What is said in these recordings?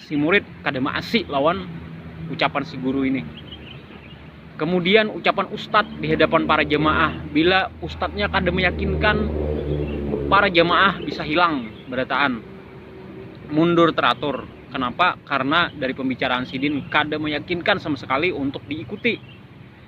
si murid kada maasi lawan ucapan si guru ini. Kemudian ucapan ustadz di hadapan para jamaah bila ustadznya kada meyakinkan para jamaah bisa hilang berataan mundur teratur. Kenapa? Karena dari pembicaraan sidin kada meyakinkan sama sekali untuk diikuti.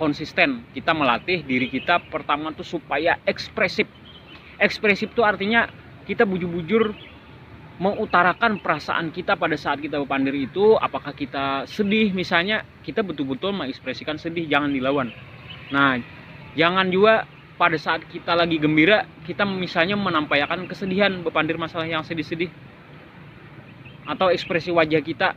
konsisten kita melatih diri kita pertama tuh supaya ekspresif ekspresif tuh artinya kita bujur-bujur mengutarakan perasaan kita pada saat kita berpandir itu apakah kita sedih misalnya kita betul-betul mengekspresikan sedih jangan dilawan nah jangan juga pada saat kita lagi gembira kita misalnya menampaikan kesedihan berpandir masalah yang sedih-sedih atau ekspresi wajah kita